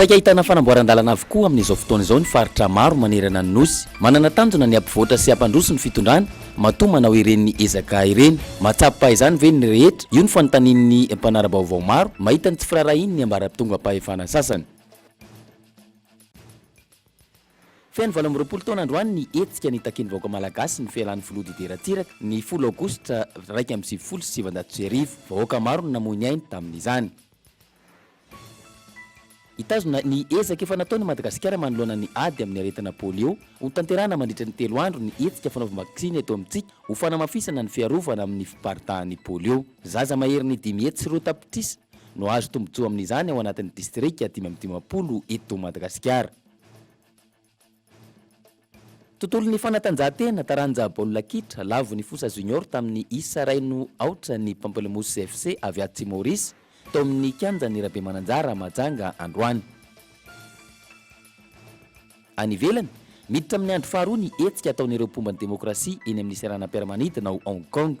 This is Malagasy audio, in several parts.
Saika ahitana fanamboaran-dalana avokoa amin'izao fotoana izao ny faritra maro manerana ny Nosy. Manana tanjona ny hampivoatra sy hampandroso ny fitondrana, matoa manao ireny ezaka ireny. Mahatsapa izany ve ny rehetra? Io no fanontanian'ny mpanara-baovao maro mahita ny tsy firaharahian'ny ambara-pitongam-pahefana sasany. Feno valo amby roapolo taona androany ny hetsika nitakian'ny vahoaka malagasy ny fialan'ny filoha Didier Ratsiraka, ny folo aogositra iraika amby sivifolo sy sivinjato sy arivo. Vahoaka maro no namoy ny ainy tamin'izany. Hitazona ny ezaka efa nataony i Madagasikara manoloana ny ady amin'ny aretina polio, hotanterahina mandritra ny telo andro ny hetsika fanaovam-baksiny eto amintsika ho fanamafisana ny fiarovana amin'ny fiparitahan'ny polio. Zaza maherin'ny dimy hetsy sy roa tapitrisa. no azo tombontsoa amin'izany ao anatin'ny distrika dimy amby dimampolo eto Madagasikara. Tontolon'ny fanatanjahantena, taranja baolina kitra, lavo ny Fosa Junior tamin'ny isa iray no aotra ny Pamplemousse FC avy atsy Maorisy tao amin'ny kianjan'i Rabemananjara Mahajanga androany. Any ivelany, miditra amin'ny andro faharoa ny hetsika ataon'ireo mpomba ny demokrasia eny amin'ny seranam-piaramanidina ao Hong Kong.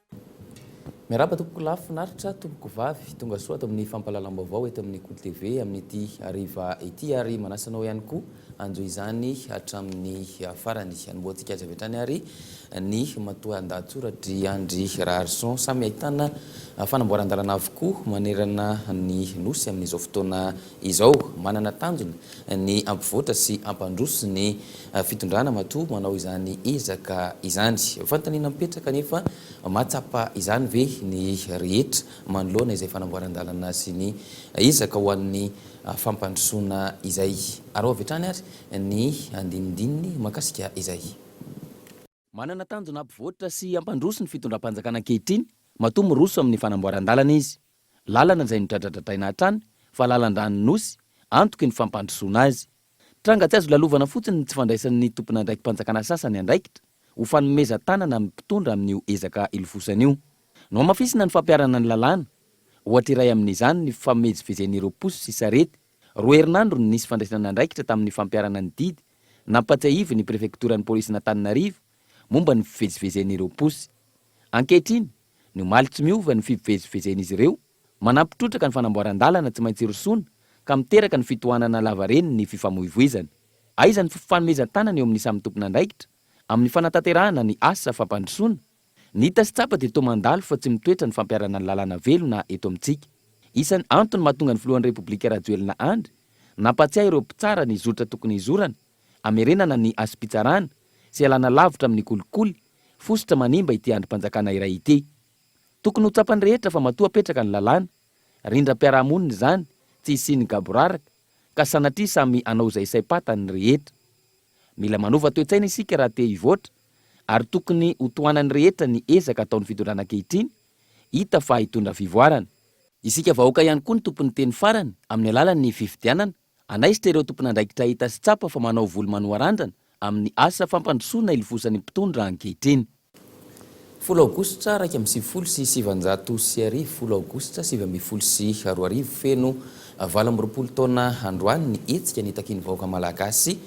Miarahaba tompoko lafo finaritra tompoko vavy tonga soa ato amin'ny fampahalalam-baovao eto amin'ny Kolo TV amin'ity hariva ity ary manasa anao ihany koa hanjo izany hatramin'ny farany anombohantsika azy avy hatrany ary ny matoandahatsoratr'i Andry Raharison samy ahitana fanamboaran-dalana avokoa manerana ny Nosy amin'izao fotoana Izao, manana tanjona ny hampivoatra sy hampandroso ny fitondrana matoa manao izany ezaka izany. Fanontaniana mipetraka anefa, mahatsapa izany ve ny rehetra manoloana izay fanamboaran-dalana sy ny ezaka ho an'ny fampandrosoana izay? Araho avy hatrany ary ny andinindininy mahakasika izay. Manana tanjona hampivoatra sy hampandroso ny fitondram-panjakana ankehitriny matoa miroso amin'ny fanamboaran-dalana izy. Lalana izay nodradradradraina hatrany fa lalan-dranon'ny Nosy antoky ny fampandrosoana azy. Tranga tsy azo lalovana fotsiny ny tsy fandraisan'ny tompon'andraiki-panjakana sasany andraikitra ho fanomezan-tanana amin'ny mpitondra amin'io ezaka hilofosana io. Nohamafisina ny fampiharana ny lalàna. Ohatra iray amin'izany ny fifamezivezen'ireo posy sy sarety. Roa herinandro no nisy fandraisana andraikitra tamin'ny fampiharana ny didy nampatsiahivin'ny prefektoran'ny polisin'Antananarivo momba ny fivezivezen'ireo posy. Ankehitriny, ny omaly tsy miova ny fivezivezen'izy ireo, manampy trotraka ny fanamboaran-dalana tsy maintsy rosoana ka miteraka ny fitohanana lavareny ny fifamoivoizana. Aiza ny fifanomezan-tanana eo amin'ny samy tompon'andraikitra amin'ny fanatanterahana ny asa fampandrosoana? Ny hita sy tsapa dia toa mandalo fa tsy mitoetra ny fampiharana ny lalàna velona eto amintsika. Isan'ny antony mahatonga ny filohan'ny Repoblika Rajoelina Andry nampahatsiahy ireo mpitsara ny zotra tokony hizorana, hamerenana ny hasim-pitsarana sy hialana lavitra amin'ny kolikoly fositra manimba ity andrim-panjakana iray ity. Tokony ho tsapan'ny rehetra fa matoa apetraka ny lalàna, rindram-piarahamonina izany tsy hisian'ny gaboraraka ka sanatria samy hanao izay saim-patany ny rehetra. Mila manova toe-tsaina isika raha te hivoatra. ary tokony ho tohanan'ny rehetra ny ezaka ataon'ny fitondrana ankehitriny hita fa hitondra fivoarana. Isika vahoaka ihany koa no tompon'ny teny farany amin'ny alalan'ny fifidianana, hanaisotra ireo tompon'andraikitra hita sy tsapa fa manao volo manoharandrana amin'ny asa fampandrosoana hilofosan'ny mpitondra ankehitriny. Folo Aogositra iraika amby sivifolo sy sivanjato sy arivo Folo Aogositra sivy ambin'ny folo sy roa arivo Feno valo amby roapolo taona androany ny hetsika nitakian'ny vahoaka malagasy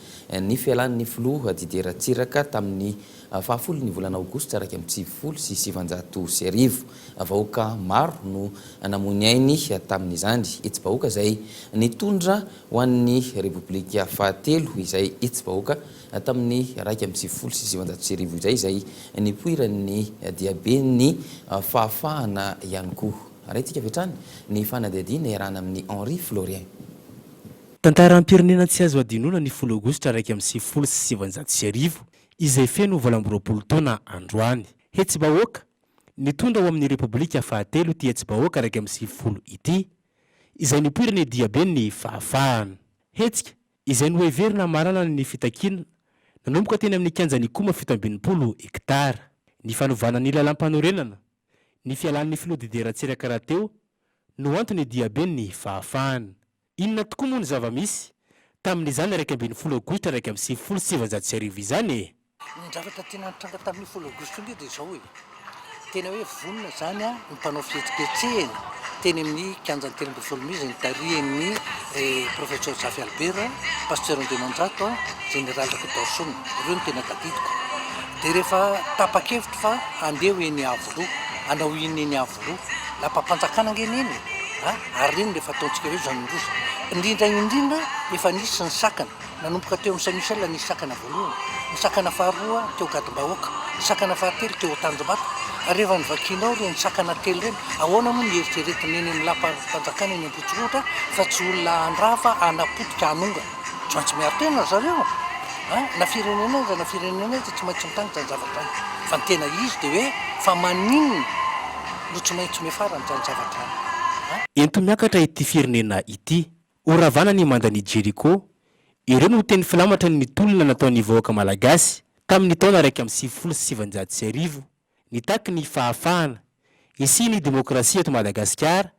ny fialan'ny filoha Didier Ratsiraka tamin'ny fahafolon'ny volana Aogositra iraika amby sivifolo sy sivanjato sy arivo. Vahoaka maro no namoy ny ainy tamin'izany hetsi-bahoaka izay nitondra ho an'ny Repoblika fahatelo izay hetsi-bahoaka Tamin'ny iraika amby sivifolo sy sivinjato sy arivo izay izay nipoiran'ny diaben'ny fahafahana ihany koa. Arahintsika avy hatrany ny fanadihadiana iarahana amin'i Henri Florien. Tantaram-pirenena tsy azo hadinoina ny folo aogositra iraika amby sivifolo sy sivinjato sy arivo izay feno valo amby roapolo taona androany. Hetsi-bahoaka nitondra ho amin'ny Repoblika fahatelo ity hetsi-bahoaka iraika amby sivifolo ity izay nipoiran'ny diaben'ny fahafahana. Hetsika izay noheverina hamarana ny fitakiana, nanomboka teny amin'ny kianjan'i Ikoma fito amby enimpolo hektara. Ny fanovana ny lalam-panorenana, ny fialan'ny filoha Didier Ratsiraka rahateo no antony diaben'ny fahafahana. Inona tokoa moa ny zava-misy tamin'izany iraika ambin'ny folo aogositra iraika amby sivifolo sy sivinjato sy arivo izany e? Ny zavatra tena nitranga tamin'io folo aogositra io dia izao e, tena hoe vonona izany ny mpanao fihetsiketsehana teny amin'ny kianjan'ny telo ambin'ny folo mey izay nitarihan'ny Professeur Zafy Albert, Pasteur Andriamanjato, Général Rakotaosona. Ireo no tena tadidiko. Dia rehefa tapa-kevitra fa handeha ho eny Iavoloha, hanao inona eny Iavoloha? Lapam-panjakana ange neny e! ary ireny no efa ataontsika hoe zanarosa. Indrindra indrindra efa nisy ny sakana. Nanomboka teo amin'ny Saint Michel nisy sakana voalohany, ny sakana faharoa teo Gadom-bahoaka, ny sakana fahatelo teo Tanjombato, ary rehefa novakianao ireny sakana telo ireny, ahoana moa no hieritreretin'ny eny amin'ny Lapanjakana eny Ambohitsorohitra fa tsy olona handrava, hanapotika, hanongana? Tsy maintsy miaro tena ry zareo a! Na firenena aiza na firenena aiza tsy maintsy mitandrina izany zavatra izany. Fa ny tena izy dia hoe fa maninona no tsy maintsy miafara amin'izany zavatra izany a! Ento miakatra ity firenena ity Ho ravana ny mandan' i Jeriko. Ireo no teny filamatra ny tolona nataon' ny vahoaka malagasy tamin' ny taona iraika amby sivifolo sy sivinjato sy arivo, nitaky ny fahafahana, hisian' ny demôkrasia eto Madagasikara,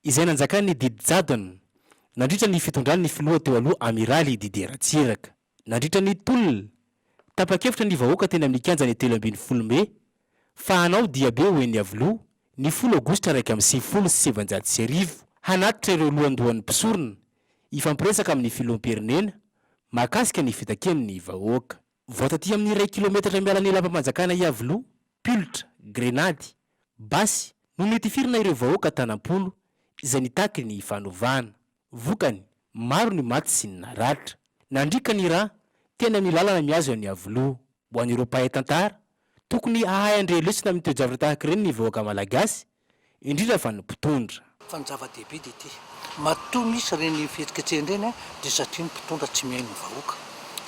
izay nanjakan' ny didy jadona, nandritra ny fitondran' ny filoha teo aloha Amiraly Didier Ratsiraka. Nandritra ny tolona, tapa-kevitra ny vahoaka teny amin'ny kianjan'ny telo ambin'ny folo mey fa hanao diabe ho eny Iavoloha ny folo aogositra iraika amby sivifolo sy sivinjato sy arivo hanatitra ireo lohandohan'ny mpisorona hifampiresaka amin'ny filoham-pirenena mahakasika ny fitakian'ny vahoaka. Vao taty amin'ny iray kilometatra miala ny lapam-panjakana Iavoloha, pilotra, grenady, basy no notifirina ireo vahoaka tana-polo izay nitaky ny fanovana. Vokany, maro ny maty sy ny naratra. Nandriaka ny rà, tena ny lalana mihazo an'i Iavoloha. Ho an'ireo mpahay tantara, tokony hahay handre lesona amin'ny toe-javatra tahaka ireny ny vahoaka malagasy, indrindra fa ny mpitondra. Fa ny zava-dehibe dia ity, matoa misy ireny fihetsiketsehana ireny dia satria ny mpitondra tsy mihaino ny vahoaka.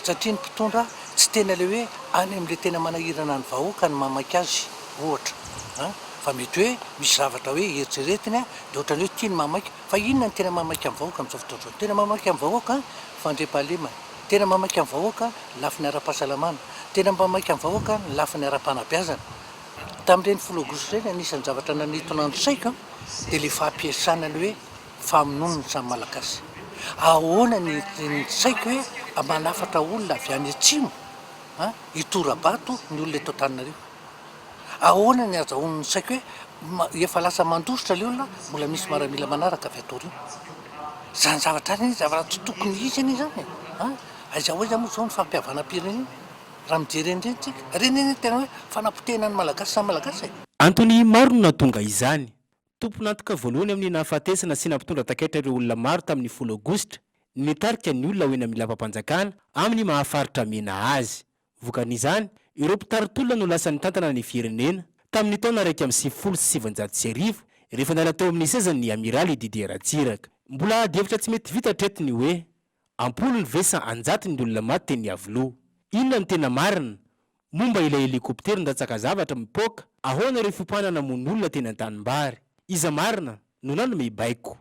Satria ny mpitondra tsy tena ilay hoe any amin'ilay tena manahirana ny vahoaka no mamaika azy, ohatra. Fa mety hoe misy zavatra hoe eritreretiny dia ohatran'ny hoe tiany mamaika Fa inona no tena mahamaika ny vahoaka amin'izao fotoana izao? Tena mahamaika ny vahoaka ny fandriampahalemana, tena mahamaika ny vahoaka ny lafiny ara-pahasalamana, tena mahamaika ny vahoaka ny lafiny ara-panabeazana. Tamin'ireny filoha Gouche ireny, anisan'ny zavatra nanintona ny saiko dia ilay fampiasana ny hoe famonoana ny samy Malagasy. Ahoana ny ny saiko hoe mba manafatra olona avy any atsimo an, hitora-bato ny olona eto Antananarivo? Ahoana ny azahoany ny saiko hoe efa lasa mandositra ilay olona, mbola misy maramila manaraka avy atory eo. Izany zavatra izany anie zavatra tsy tokony hisy anie izany e! a! Aiza ho aiza moa izao ny fampihavanam-pirenena raha mijery an'ireny tsika? Ireny anie tena hoe fanapotehana ny Malagasy samy Malagasy e! Antony maro no nahatonga izany. Tompon'antoka voalohany amin'ny nahafatesana sy nampitondra takaitra ireo olona maro tamin'ny folo aogositra ny nitarika ny olona ho eny amin'ny lapam-panjakana amin'ny maha faritra mena azy. Vokan'izany, ireo mpitari-tolona no lasa nitantana ny firenena, tamin'ny taona iraika amby sivifolo sy sivinjato sy arivo, rehefa niala teo amin'ny sezany ny Amiraly Didier Ratsiraka. Mbola adihevitra tsy mety vita hatreto ny hoe, am-polony ve sa an-jatony ny olona maty teny Iavoloha? Inona no tena marina, momba ilay helikoptera nandatsaka zavatra mipoaka? Ahoana ireo fiopahana namono olona teny an-tanimbary? Iza marina no nanome baiko?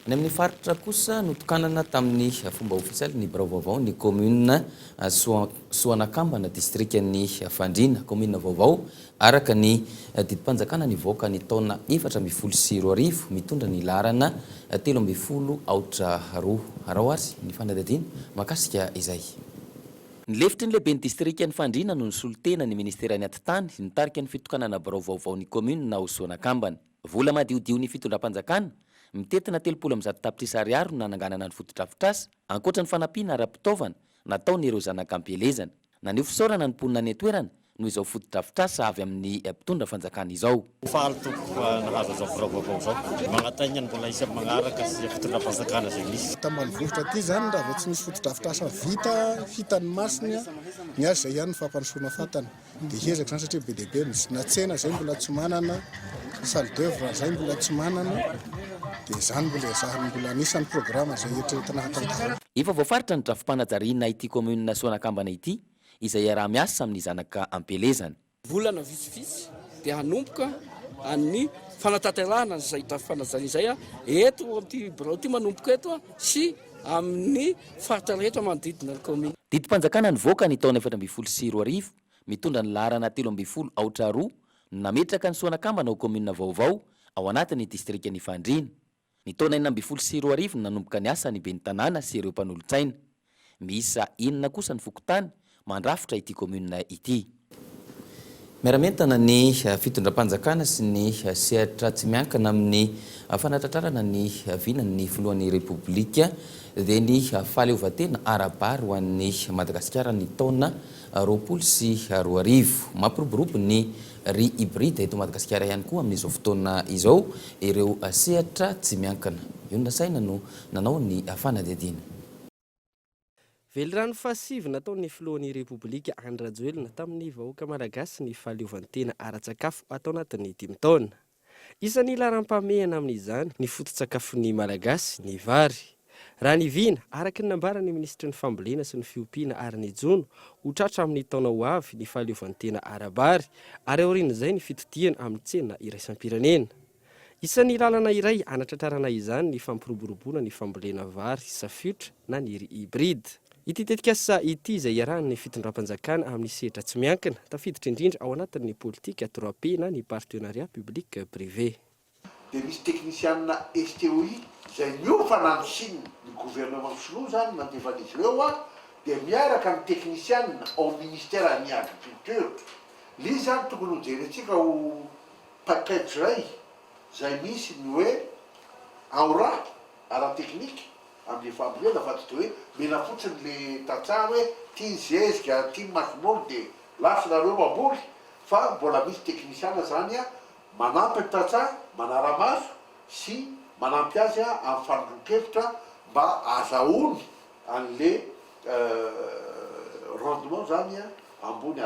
Ny amin'ny faritra kosa, notokanana tamin'ny fomba ofisialy ny birao vaovao ny kaominina Soanakambana, distrikan'i Fandriana. Kaominina vaovao araka ny didim-panjakana nivoaka ny taona efatra ambin'ny folo sy roa arivo, mitondra ny laharana telo ambin'ny folo aotra roa. Araho ary ny fanadihadiana mahakasika izay. Ny lefitry ny lehiben'ny distrikan'i Fandriana no nisolo tena ny minisiteran'ny Atitany, nitarika ny fitokanana birao vaovao ny kaominina ao Soanakambana. Vola madiodion'ny fitondram-panjakana, mitentina telopolo amby zato tapitrisa ariary no nananganana ny fotodrafitrasa, ankoatra ny fanampiana ara-pitaovana nataon'ireo zanak'ampielezana. Naneho fisaorana ny mponina any an-toerana noho izao fotodrafitrasa avy amin'ny mpitondra fanjakana izao. Faly tompoko nahazo izao birao vaovao izao. Magnataigna ny mbola hisy amin'ny magnaraka sy fitondram-panjakana izay misy. Tany ambanivohitra aty izany raha vao tsy nisy fotodrafitrasa vita hitan'ny masony ny azy izay ihany no fampandrosoana fantany. Dia hiezaka izany satria be dia be ny na tsena izay mbola tsy manana, salle d'oeuvre izay mbola tsy manana, dia izany mbola ezahina, mbola anisan'ny programa izay eritreretina hatantarana. Efa voafaritra ny drafi-panajariana ity kaominina Soanakambana ity izay hiaraha-miasa amin'ny zanaka am-pielezana. Volana vitsivitsy dia hanomboka ny fanatanterahana izay drafi-panajariana izay eto amin'ity birao ity manomboka eto sy. amin'ny faritra rehetra manodidina ny kaominina. Didim-panjakana nivoaka ny taona efatra ambin'ny folo sy roa arivo mitondra ny laharana telo ambin'ny folo aotra roa no nametraka ny soanakambana ho kaominina vaovao ao anatin'ny distrikan'i Fandriana. Ny taona enina ambin'ny folo sy roa arivo no nanomboka niasa ny ben'ny tanàna sy ireo mpanolotsaina. Miisa enina kosa ny fokontany mandrafitra ity commune ity. Miara-mientana ny fitondram-panjakana sy ny sehatra tsy miankina amin'ny fanatratrarana ny vinan'ny filohan'ny Repoblika dia ny fahaleovantena ara-bary ho an'i Madagasikara ny taona roapolo sy roa arivo. Mampiroborobo ny riz hybride eto Madagasikara ihany koa amin'izao fotoana izao ireo sehatra tsy miankina. Io nasaina no nanao ny fanadihadiana. Velirano fahasivy nataon'ny filohan'ny Repoblika Andry Rajoelina tamin'ny vahoaka Malagasy ny fahaleovantena ara-tsakafo atao anatin'ny dimy taona. Isan'ny laharam-pahamehana amin'izany ny foto-tsakafon'ny Malagasy, ny vary. Raha ny vina, araka ny nambaran'ny minisitry ny Fambolena sy ny Fiompiana ary ny Jono, ho tratra amin'ny taona ho avy ny fahaleovantena ara-bary ary aorian'izay ny fitotiany amin'ny tsena iraisam-pirenena. Isan'ny lalana iray hanatratrarana izany ny fampiroboroboana ny fambolena vary safiotra na ny riz hybride. Ity tetikasa ity izay iarahan'ny fitondram-panjakana amin'ny sehatra tsy miankina, tafiditra indrindra ao anatin'ny politika trois P na ny partenariat public privé. Dia misy teknisianina STOI izay niofana any Chine, ny gouvernement sinoa izany nandefa an'izy ireo a, dia miaraka ny teknisianina ao ministère an'ny agriculture, lzy izany tokony ho jerentsika ho Package iray izay misy ny hoe aura ara-teknika amin'ny fambolena fa tsy dia hoe mila fotsiny le tantsaha hoe ity ny zezika, ity ny masomoly dia lafo nareo mamboly fa mbola misy teknisiana izany manampy ny tantsaha manara-maso sy manampy azy amin'ny fanondron-kevitra mba azahoany an'le rendement izany ambony.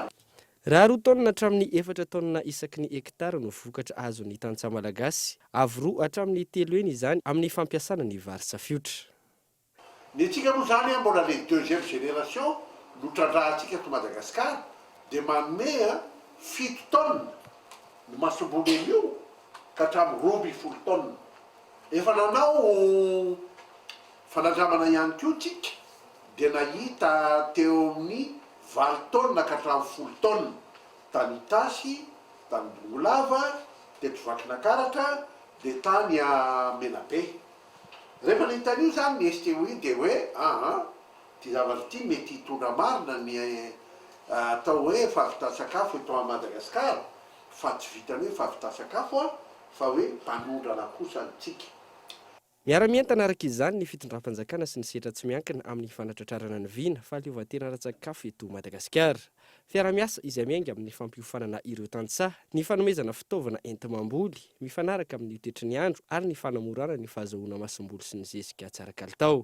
Raha roa taonina hatramin'ny efatra taonina isaky ny hekitara no vokatra azon'ny tantsaha malagasy, avo roa hatramin'ny telo heny izany amin'ny fampiasana ny vary safiotra. Ny antsika moa izany an, mbola ilay deuxième génération no trandrahantsika ato Madagasikara, dia manome an, fito taonina ny masombolin' io ka hatramin'ny roa ambin'ny folo taonina. Efa nanao Fanandramana ihany koa isika dia nahita teo amin'ny valo taonina ka hatramin'ny folo taonina, tany Itasy, tany Bongolava, teto Vakinakaratra, dia tany Menabe. Rehefa nahita an'io izany ny STOI dia hoe ah ah, ity zavatra ity mety hitondra marina ny atao hoe fahavitan-tsakafo eto Madagasikara, fa tsy vitan'ny hoe fahavitan-tsakafo fa hoe mpanondrana kosa isika. Miara-mientana araka izany ny fitondram-panjakana sy ny sehatra tsy miankina amin'ny fanatratrarana ny vina, fahaleovantena ara-tsakafo eto Madagasikara. Fiaraha-miasa izay miainga amin'ny fampiofanana ireo tantsaha, ny fanomezana fitaovana enti-mamboly mifanaraka amin'ny toetry ny andro ary ny fanamorana ny fahazahoana masomboly sy ny zezika tsara kalitao.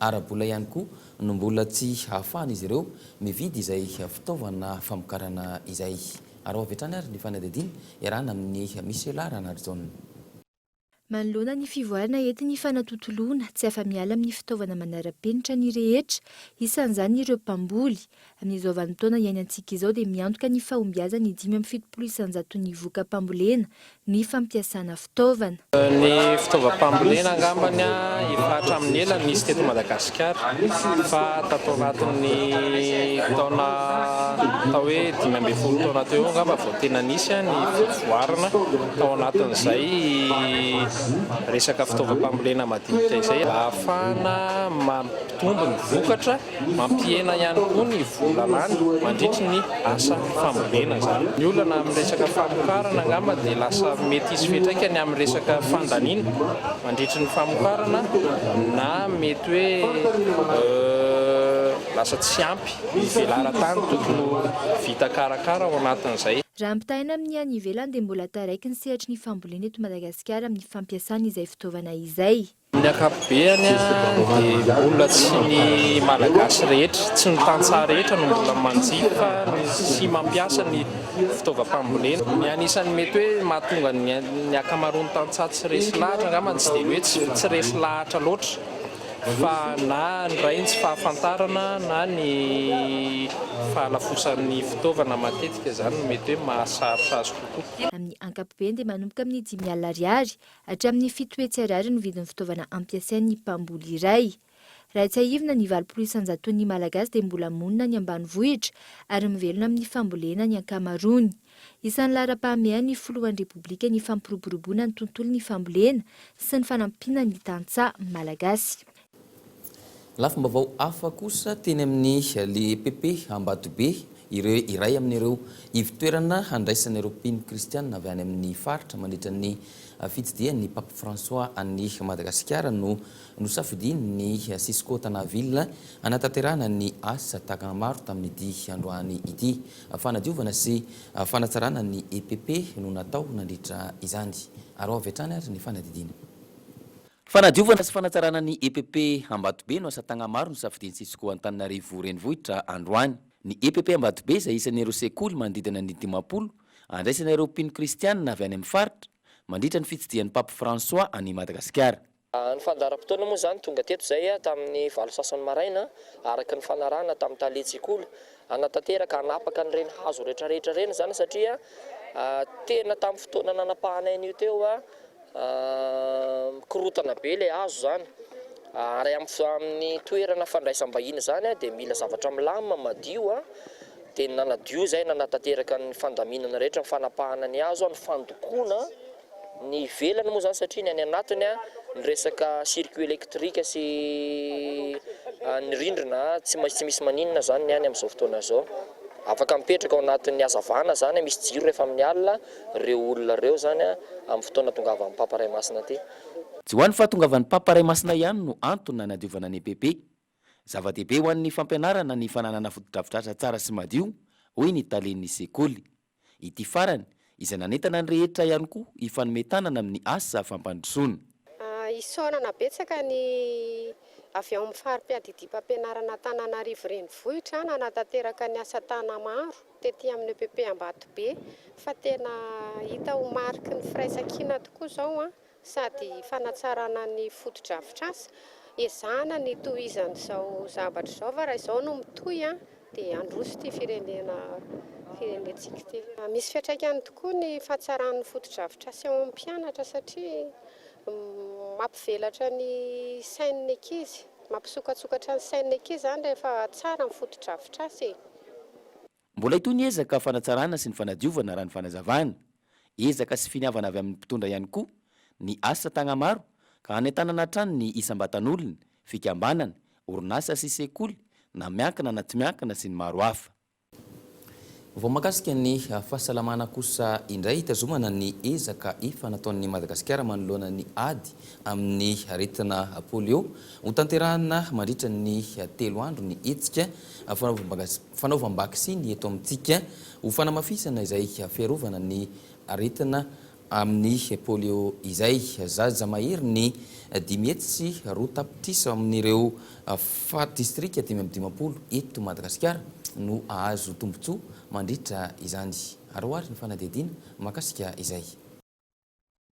Ara-bola ihany koa no mbola tsy hahafahan'izy ireo mividy izay fitaovana famokarana izay. Araho avy hatrany ary ny fanadihadiana iarahana amin'i Michela Ranarijaona. Manoloana ny fivoarana entin'ny fanatontoloana, tsy afa-miala amin'ny fitaovana manara-penitra ny rehetra, isan'izany ireo mpamboly. Amin'izao vanin-taona iainantsika izao dia miantoka ny fahombiazan'ny dimy amby fitopolo isanjaton'ny vokam-pambolena ny fampiasana fitaovana. Ny fitaovam-pambolena angambany efa hatramin'ny ela no nisy teto Madagasikara fa tato anatin'ny taona atao hoe dimy ambin'ny folo taona teo eo angamba vao tena nisy ny voarina tao anatin'izay resaka fitaovam-pambolena madinika izay mba hahafahana mampitombo ny vokatra. Mampihena ihany koa ny vola lany mandritry ny asa fambolena izany. Ny olana amin'ny resaka famokarana angamba dia lasa mety hisy fiantraikany amin'ny resaka fandaniana mandritry ny famokarana na mety hoe lasa tsy ampy ny velaran-tany tokony ho vita karakara ao anatin'izay. Raha ampitahaina amin'ny any ivelany dia mbola taraiky ny sehatry ny fambolena eto Madagasikara amin'ny fampiasana izay fitaovana izay. Ny ankapobeany dia mbola tsy ny Malagasy rehetra, tsy ny tantsaha rehetra no mbola manjifa sy mampiasa ny fitaovam-pambolena. Ny anisan'ny mety hoe mahatonga ny ankamaroan'ny tantsaha tsy resy lahatra angambany tsy dia ny hoe tsy resy lahatra loatra fa na ny iray ny tsy fahafantarana na ny fahalafosan'ny fitaovana matetika izany no mety hoe mahasarotra azy kokoa. Amin'ny ankapobeny dia manomboka amin'ny dimy alina ariary Hatramin'ny fito hetsy ariary ny vidin'ny fitaovana ampiasain'ny mpamboly iray. Raha tsiahivina, ny valopolo isan-jaton'ny Malagasy dia mbola monina any ambanivohitra ary mivelona amin'ny fambolena ny ankamaroany. Isan'ny laharam-pahamehan'ny filohan'ny Repoblika ny fampiroboroboana ny tontolon'ny fambolena sy ny fanampiana ny tantsaha malagasy. Lafim-baovao hafa kosa teny amin'ny Le PP Ambatobe, ireo iray amin'ireo ivo-toerana handraisan'ireo mpino kristiana avy any amin'ny faritra mandritra ny fitsidihan'ny Pape François an'i Madagasikara no nosafidian'ny Cisco Tanaville hanatanterahana ny asa tahaka maro tamin'ity androany ity. Fanadiovana sy fanatsarana ny EPP no natao nandritra izany. Araho avy hatrany ary ny fanadidina. Fanadiovana sy fanatsarana ny EPP Ambatobe no asa tagnamaro nosafidian'ny Cisco Antananarivo Renivohitra androany. Ny EPP Ambatobe izay isan'ireo sekoly manodidina ny dimampolo, andraisana ireo mpino kristianina avy any amin'ny faritra, mandritra ny fitsidihan'i Pape François an'i Madagasikara. Ny fandaharam-potoana moa izany tonga teto izay tamin'ny valo sasany maraina, araka ny fanarahana tamin'ny tale tsekoly. Hanatanteraka, hanapaka an'ireny hazo retraretra ireny izany satria tena tamin'ny fotoana nanapahanay an'io teo, Mikorontana be ilay hazo izany ary amin'ny toerana fandraisam-bahiny izany dia mila zavatra milamina, madio, dia ny nanadio izay nanatanteraka ny fandaminana rehetra, ny fanapahana ny hazo, ny fandokoana ny ivelany moa izany satria ny any anatiny ny resaka circuit électrique sy ny rindrina tsy maintsy tsy misy maninona izany ny any amin'izao fotoana izao, afaka mipetraka ao anatin'ny hazavana izany, misy jiro rehefa amin'ny alina. reo olona reo zany a am fotoana tongavan papa ray masina ty. Tsy ho an'ny fahatongavan'ny Papa Ray Masina ihany no antony nanadiovana ny EPP. Zava-dehibe ho an'ny fampianarana ny fananana fotodrafitrasa tsara sy madio, hoy ny talen'ny sekoly. Ity farany, izay nanentana ny rehetra ihany koa hifanome tanana amin'ny asa fampandrosoana. Isaorana betsaka ny avy ao amin'ny fari-piadidiam-pampianarana Antananarivo Renivohitra nanatanteraka ny asa Tanamaro tety amin'ny EPP Ambatobe fa tena hita ho mariky ny firaisankina tokoa izao sady fanatsarana ny fotodrafitrasa. Ezahana ny hitohizana izao zavatra izao fa raha izao no mitohy Dia handroso ity firenena firenentsika ity. Misy fiantraikany tokoa ny fahatsaran'ny fotodrafitrasa eo amin'ny mpianatra satria mampivelatra ny sain'ny ankizy, mampisokatsokatra ny sain'ny ankizy izany rehefa tsara ny fotodrafitrasa e! Mbola hitohy ny ezaka fanatsarana sy ny fanadiovana raha ny fanazavana. Ezaka sy finiavana avy amin'ny mpitondra ihany koa ny asa Tagnamaro ka hanentanana hatrany ny isam-batan'olona, fikambanana, orinasa sy sekoly na miankina na tsy miankina sy ny maro hafa. Vao mahakasika ny fahasalamana kosa indray hitazomana ny ezaka efa nataon'i Madagasikara manoloana ny ady amin'ny aretina polio. Hotanterahina mandritra ny telo andro ny hetsika fanaovam-pangatsia. fanaovam-baksiny eto amintsika ho fanamafisana izay fiarovana ny aretina amin'ny polio izay. Zaza maherin'ny dimy hetsy sy roa tapitrisa amin'ireo fat distrika dimy amby dimampolo eto Madagasikara no hahazo tombontsoa mandritra izany. Aroaro ny fanadihadiana mahakasika izay.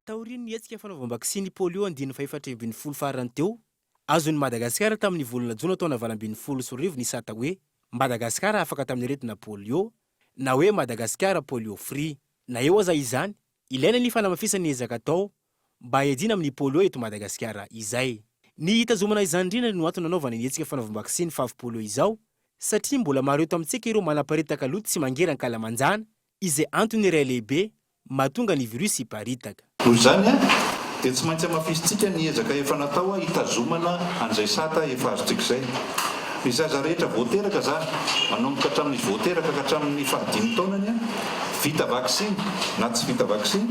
Taorian'ny hetsika fanaovam-baksiny polio andiany fahefatra ambin'ny folo farany teo, azon'i Madagasikara tamin'ny volana jona taona valo ambin'ny folo sy roa arivo ny sata hoe Madagasikara afaka tamin'ny aretina polio na hoe Madagasikara polio free. Na eo aza izany, ilaina ny fanamafisana ny ezaka atao mba hiadiana amin'ny polio eto Madagasikara izay. Ny hitazomana izany indrindra no antony nanaovana ny hetsika fanaovam-baksiny favy polio izao satria mbola maro eto amintsika ireo manaparitaka loto tsy mangeran-kalamanjana Izay antony iray lehibe mahatonga ny virus hiparitaka. Noho izany, dia tsy maintsy hamafisintsika ny ezaka efa natao hitazomana an'izay sata efa azontsika izay. Ny zaza rehetra vao teraka zany, manomboka hatramin'izy vao teraka ka hatramin'ny fahadimy taonany, vita vaksiny na tsy vita vaksiny,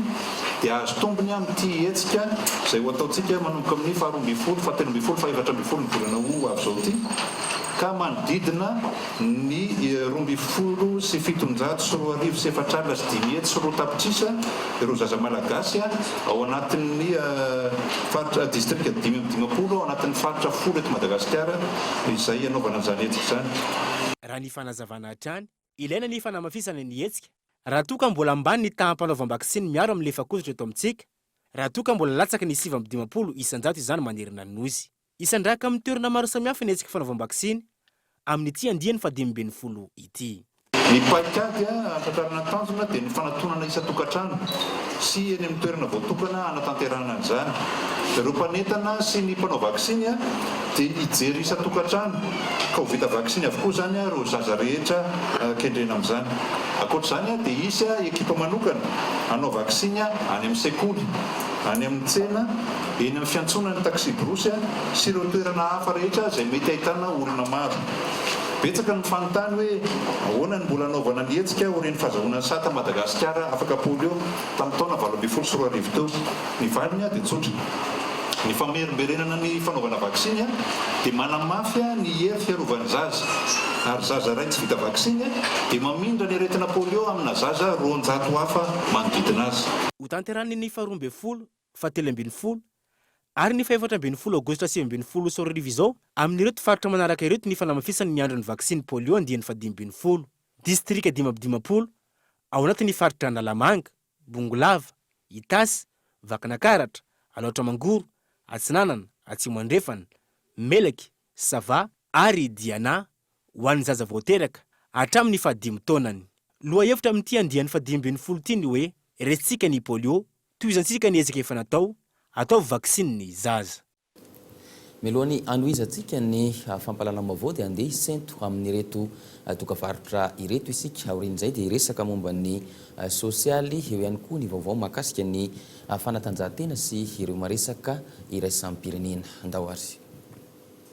dia hahazo tombony amin'ity hetsika izay ho ataontsika manomboka amin'ny faharoa ambin'ny folo, fahatelo ambin'ny folo, fahefatra ambin'ny folo ny volana ho avy izao ity ka manodidina Ny roa ambin'ny folo sy fitonjato sy roa arivo sy efatra alina sy dimy hetsy sy roa tapitrisa ireo zaza malagasy ao anatin'ny faritra distrika dimy amby dimampolo ao anatin'ny faritra folo eto Madagasikara izay hanaovana an'izany hetsika izany. Raha ny fanazavana hatrany, ilaina ny fanamafisana ny hetsika raha toa ka mbola ambany ny taham-panaovam-baksiny miaro amin'ny lefakozitra eto amintsika, raha toa ka mbola latsaky ny sivy amby dimampolo isan-jato izany manerana ny Nosy. Hisandrahaka amin'ny toerana maro samihafa ny hetsika fanaovam-baksiny amin'ity andiany fahadimy ambin'ny folo ity. Ny paikady hahatratrarana ny tanjona dia ny fanatonana isan-tokantrano sy eny amin'ny toerana voatokana hanatanterahana an'izany. Ireo mpanentana sy ny mpanao vaksiny dia hijery isan-tokantrano ka ho vita vaksiny avokoa izany ireo zaza rehetra kendrena amin'izany. Ankoatra izany dia hisy ekipa manokana hanao vaksiny any amin'ny sekoly, any amin'ny tsena, eny amin'ny fiantsonan'ny taksiborosy sy ireo toerana hafa rehetra izay mety ahitana olona maro. Betsaka no fanontany hoe ahoana ny mbola hanaovana ny hetsika aorian'ny fahazahoana ny sata Madagasikara afaka polio tamin'ny taona valo ambin'ny folo sy roa arivo teo. Ny valiny dia tsotra. Ny famerimberenana ny fanaovana vaksiny dia manamafy ny hery fiarovan'ny zaza ary zaza iray tsy vita vaksiny dia mamindra ny aretina polio amina zaza roanjato hafa manodidina azy. Hotanterahin'ny ny faharoa ambin'ny folo fahatelo ambin'ny folo ary ny fahefatra ambin'ny folo Aogositra sivy ambin'ny folo sy roa arivo izao amin'ireto faritra manaraka ireto ny fanamafisany ny andron'ny vaksiny polio andiany fahadimy ambin'ny folo, distrika dimy amby dimampolo ao anatin'ny faritra Analamanga, Bongolava, Itasy, Vakinakaratra, Alaotra Mangoro, Atsinanana, Atsimo Andrefana, Melaky, Sava ary Diana ho an'ny zaza vao teraka hatramin'ny fahadimy taonany. Lohahevitra amin'ity andiany fahadimy ambin'ny folo ity ny hoe Resintsika ny polio Tohizantsika ny ezaka efa natao, ataovy vaksiny ny zaza. Mialoha ny hanohizantsika ny fampahalana vaovao dia andeha hisento amin'ireto dokavarotra ireto isika. Aorian'izay dia hiresaka momba ny sosialy, eo ihany koa ny vaovao mahakasika ny fanatanjahantena sy ireo maresaka iraisam-pirenena. Andao ary.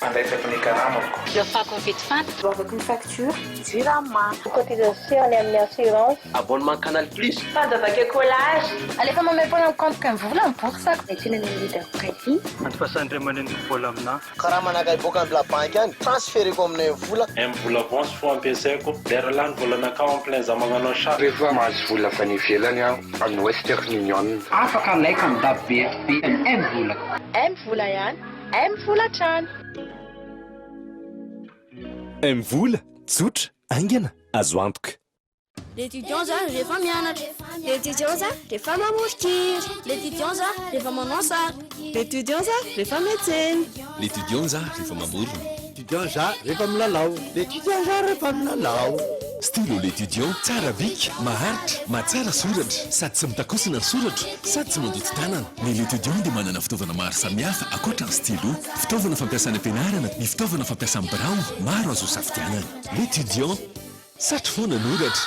Fandraisako ny karamako. Iafako ny vidi-fatra. Goavako ny facture. Jirama. Cotisation any amin'ny assurance. Abonnement canal plus. Fanja vaika collage. Alefa maimaim-poana amin'ny compte-ko im-vola ny bourse-ko. Miantsena ny amin'ny leader Pressy. Antofasan dry amaneniko vola aminà. Karama naka hiboaka any bla banky any, transfereko aminay ny vola. Im vola avance fo ampiasaiko. Lera lany vola nakao en plein za magnanao chat. Rehefa mahazo vola avy any ivelany aho. Any Western Union. Afaka like am dab be FB any M vola. M vola ihany M vola hatrany. M vola, tsotra, aingana, azo antoka. L'étudiant za rehefa mianatra. L'étudiant za rehefa mamoron-kira. L'étudiant za rehefa manao sary. L'étudiant za rehefa miantsena. L'étudiant za rehefa mamorona. L'étudiant za rehefa milalao. L'étudiant za rehefa milalao. Stylo L'étudiant tsara bika, maharitra, mahatsara soratra, sady tsy mitakosina ny soratro, sady tsy mandoto tanana. Ny L'étudiant dia manana fitaovana maro samihafa ankoatra ny stylo. Fitaovana fampiasa any am-pianarana ny fitaovana fampiasa amin'ny birao, maro azo isafidianana. L'étudiant, satry foana anoratra.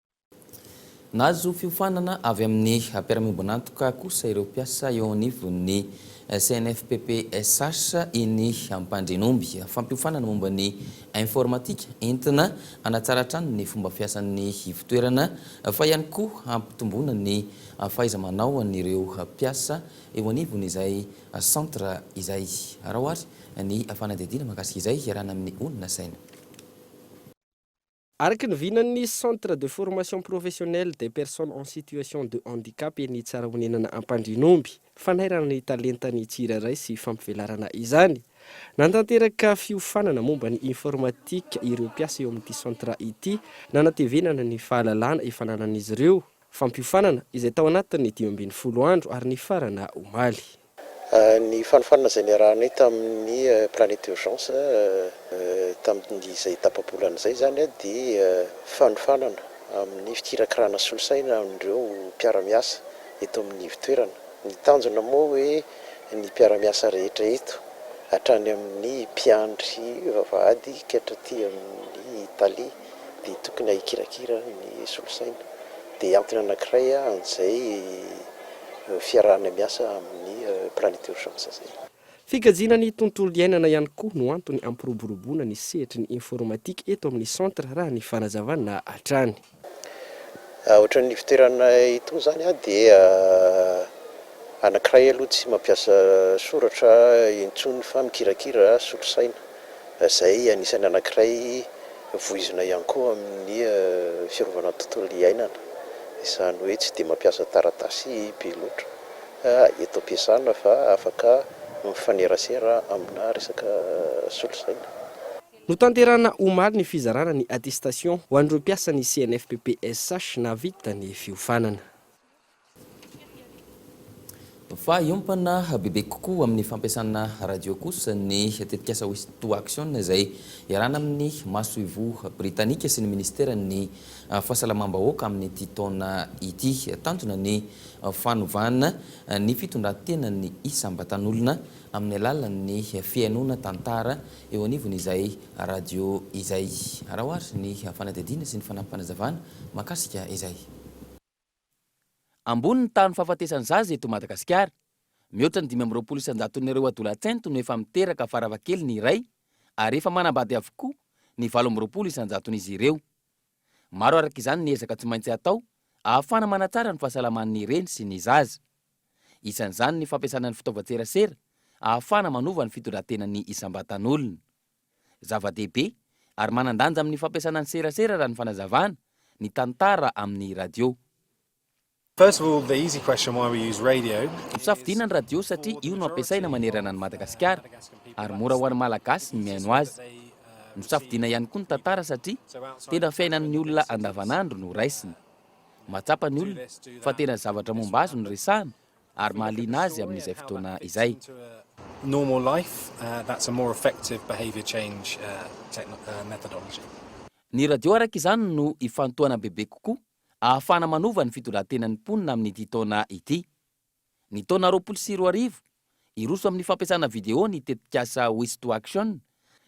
Nahazo fiofanana avy amin'ny mpiara-miombon'antoka kosa ireo mpiasa eo anivon'ny CNFPPSH eny Ampandrianomby. Fampiofanana momba ny informatika entina hanatsara hatrany ny fomba fiasan'ny ivotoerana fa ihany koa hampitomboana ny fahaiza-manaon'ireo mpiasa eo anivon'izay centre izay. Araho ary ny fanadihadiana mahakasika izay iarahana amin'ny olona saina. Araka ny vinan'ny Centre de formation professionnelle des personnes en situation de handicap eny Tsarahonenana Ampandrianomby, fanairana ny talentan'ny tsirairay sy fampivelarana izany. Nantanteraka fiofanana momba ny informatika ireo mpiasa eo amin'ity centre ity, nanatevenana ny fahalalana efa ananan'izy ireo, Fampiofanana, izay tao anatin'ny dimy ambin'ny folo andro ary nifarana omaly. Ny fanofanana izay niarahanay tamin'ny Planète Urgence tamin'izay tapa-bolana izay izany dia fanofanana amin'ny fikirakirana solosaina amin'ireo mpiara-miasa eto amin'ny ivotoerana. Ny tanjona moa hoe ny mpiara-miasa rehetra eto, hatrany amin'ny mpiandry vavahady ka hatraty amin'ny tale, dia tokony hahikirakira ny solosaina. Dia antony anankiray an'izay fiarahana miasa amin'ny Planet Urgence izay. Fikajiana ny tontolo iainana ihany koa no antony hampiroboroboana ny sehatry ny informatika eto amin'ny centre raha ny fanazavana hatrany. Ohatran'ny ivoteranay itony izany dia anankiray aloha tsy mampiasa soratra intsony fa mikirakira solosaina. Izay anisan'ny anankiray voizina ihany koa amin'ny fiarovana ny tontolo iainana, izany hoe tsy dia mampiasa taratasy be loatra eto am-piasana fa afaka mifanerasera amina resaka solosaina. Notanterahina omaly ny fizarana ny attestation ho an'ireo mpiasan'ny CNFPPSH nahavita ny fiofanana. Fa hiompana bebe kokoa amin'ny fampiasana radio kosa ny tetikasa West to Action izay iarahana amin'ny masoivoho britanika sy ny minisiteran'ny fahasalamam-bahoaka amin'ity taona ity. Tanjona ny fanovana ny fitondran-tenan'ny isam-batan'olona amin'ny alalan'ny fihainoana tantara eo anivon'izay radio izay. Araho ary ny fanadihadiana sy ny fanampim-panazavana mahakasika izay. Ambony ny tahan'ny fahafatesan'ny zaza eto Madagasikara. Mihoatra ny dimy amby roapolo isan-jaton'ireo adolatsento no efa miteraka farafahakeliny iray ary efa manambady avokoa ny valo amby roapolo isan-jaton'izy ireo. Maro araka izany ny ezaka tsy maintsy atao ahafahana manatsara ny fahasalaman'ny reny sy ny zaza. Isan'izany ny fampiasana ny fitaovan-tserasera ahafahana manova ny fitondran-tenan'ny isam-batan'olona. Zava-dehibe ary manan-danja amin'ny fampiasana ny serasera raha ny fanazavana ny tantara amin'ny radio. First of all, the easy question, why we use radio. Nosafidiana ny radio satria io no ampiasaina manerana an'i Madagasikara ary mora ho an'ny Malagasy ny mihaino azy. Nosafidiana ihany koa ny tantara satria tena fiainan'ny olona andavanandro no raisina. Mahatsapa ny olona fa tena zavatra momba azy no resahana ary mahaliana azy amin'izay fotoana izay. normal life, that's a more effective behaviour change methodology. Ny radio araka izany no ifantohana bebe kokoa ahafahana manova ny fitondran-tenan'ny mponina amin'ity taona ity. Ny taona roapolo sy roa arivo, hiroso amin'ny fampiasana video ny tetikasa Wish to Action,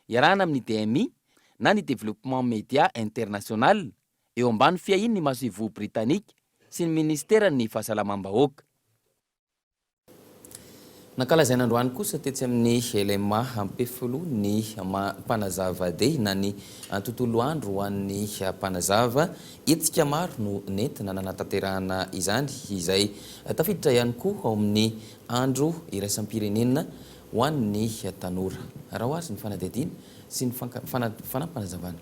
iarahana amin'ny DMI na ny Développement Média International, eo ambany fiahian'ny masoivoho Britanika sy ny Ministeran'ny Fahasalamam-bahoaka. Nankalazaina androany kosa tetsy amin'ny LMA Ampefiloha ny Mpanazava Day na ny Tontolo Andro ho an'ny Mpanazava. Hetsika maro no nentina nanatanterahana izany izay tafiditra ihany koa ao amin'ny Andro iraisam-pirenena ho an'ny tanora. Araho azy ny fanadihadiana sy ny fanampanazavana.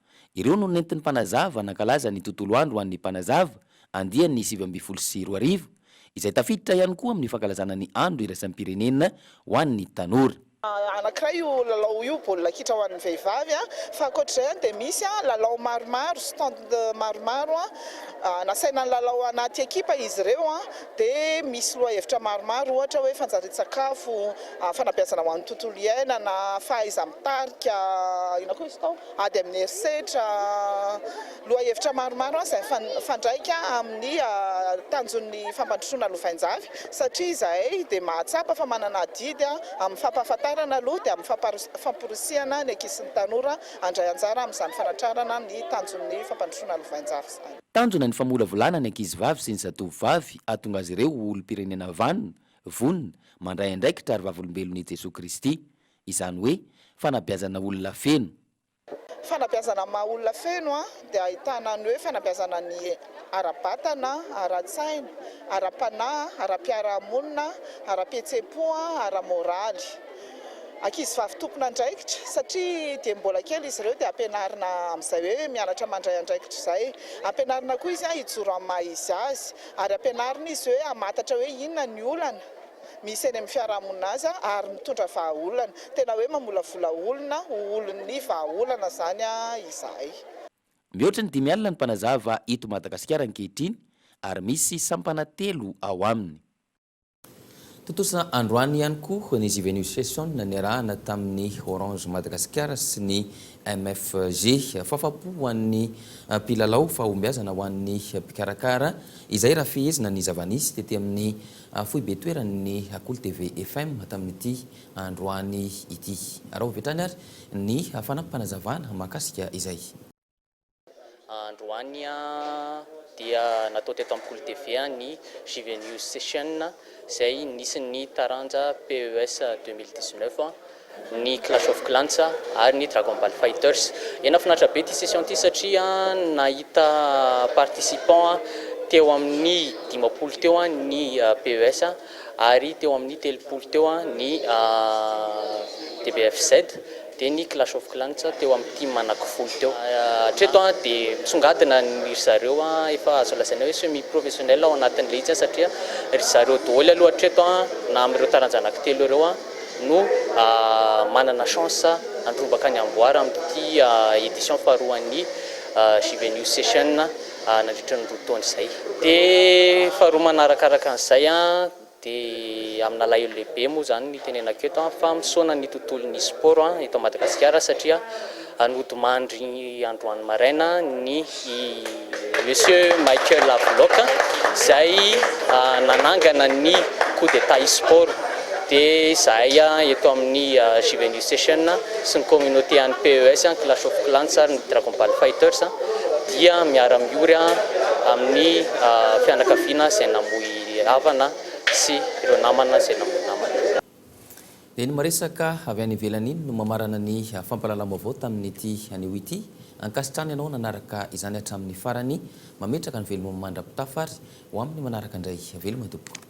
Ireo no nentin'ny Mpanazava nankalaza ny Tontolo Andro ho an'ny Mpanazava, andiany sivy ambin'ny folo sy roa arivo, izay tafiditra ihany koa amin'ny fankalazana ny Andro iraisam-pirenena ho an'ny tanora. Anankiray io lalao io, baolina kitra ho an'ny vehivavy, fa ankoatra izay dia misy lalao maromaro, stand maromaro, nasaina nilalao anaty ekipa izy ireo, dia misy lohahevitra maromaro ohatra hoe fanjarian-tsakafo, fanabeazana ho an'ny tontolo iainana, fahaiza-mitarika, inona koa izy tao? Ady amin'ny herisetra, Lohahevitra maromaro aza mifandraika amin'ny tanjon'ny fampandrosoana lovainjafy satria izahay dia mahatsapa fa manana adidy amin'ny fampahafantarana aloha dia amin'ny famporisihana ny ankisyny tanora handray anjara amin'izany fanatrarana ny tanjon'ny fampandrosoana lovainjafy izany. Tanjona ny famolavolana ny ankizivavy sy ny zatovovavy hahatonga azy ireo ho olom-pirenena vanona, vonona, mandray andraikitra ary vavolombelon'i Jesoa Kristy. Izany hoe fanabeazana olona feno. Fanabeazana maha olona feno dia ahitana ny hoe fanabeazana ny ara-batana, ara-tsaina, ara-panahy, ara-piarahamonina, ara-pihetseham-po, ara-moraly. Ankizivavy tompon'andraikitra satria dia mbola kely izy ireo dia ampianarina amin'izay hoe mianatra mandray andraikitra izay. Ampianarina koa izy hijoro amin'ny maha izy azy ary ampianarina izy hoe hamantatra hoe inona ny olana. misy eny amin'ny fiarahamonina azy ary mitondra vahaolana. Tena hoe mamolavola olona ho olon'ny vahaolana izany izahay. Mihoatra ny dimy alina ny mpanazava eto Madagasikara ankehitriny ary misy sampana telo ao aminy. Tontosa androany ihany koa ny Zivenius Session niarahana tamin'ny Orange Madagascar sy ny MFG. Fahafapo ho an'ny mpilalao, fahombiazana ho an'ny mpikarakara izay raha fehezina ny zava-nisy tety amin'ny Fohy be toerany ny Akolo TV FM tamin'ity androany ity. Araho avy hatrany ary ny fanampim-panazavana mahakasika izay. Androany dia natao teto amin'ny Akolo TV ny JVNews Session izay nisy ny taranja PES deux mille dix-neuf. ny Clash of Clans ary ny Dragon Ball Fighters. Dia nahafinaritra be ity session ity satria nahita participants teo amin'ny dimampolo teo ny PES ary teo amin'ny telopolo teo ny DBFZ dia ny Clash of Clans teo amin'ny tim anankifolo teo. Hatreto dia misongadina ny ry zareo efa azo lazaina hoe semi professionnel ao anatin'ilay izy satria ry zareo daholo aloha hatreto na amin'ireo taranja anankitelo ireo. no manana chance handrombaka ny amboara amin'ity édition faharoan'ny JB News Session nandritra ny roa taona izay. Dia faharoa manaraka araka an'izay dia amin'alahelo lehibe moa izany no itenenako eto fa misaona ny tontolon'ny sport eto Madagasikara satria Hanodimandry androany maraina ny Monsieur Michael Havelock izay nanangana ny coup d'Etat e-sport. Dia izahay eto amin'ny Juvenile Session sy ny communauté an'ny PES, ny Clash of Clans ary ny Dragon Ball Fighters dia miara-miory amin'ny fianakaviana izay namoy havana sy ireo namana izay namoy namana. Dia iny maresaka avy any ivelany iny no mamarana ny fampahalalam-baovao tamin'ity anio ity. Ankasitrahana ianao nanaraka izany hatramin'ny farany. Mametraka ny veloma mandra-pitafa ary ho amin'ny manaraka indray. Veloma tompoko.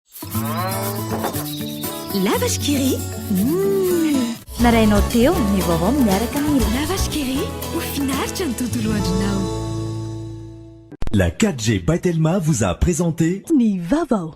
La vache qui rit. Mmh. Narainao teo ny vaovao miaraka amin'ny La vache qui rit, ho finaritra ny tontolo andronao. La 4G by Telma vous a présenté Ny vaovao.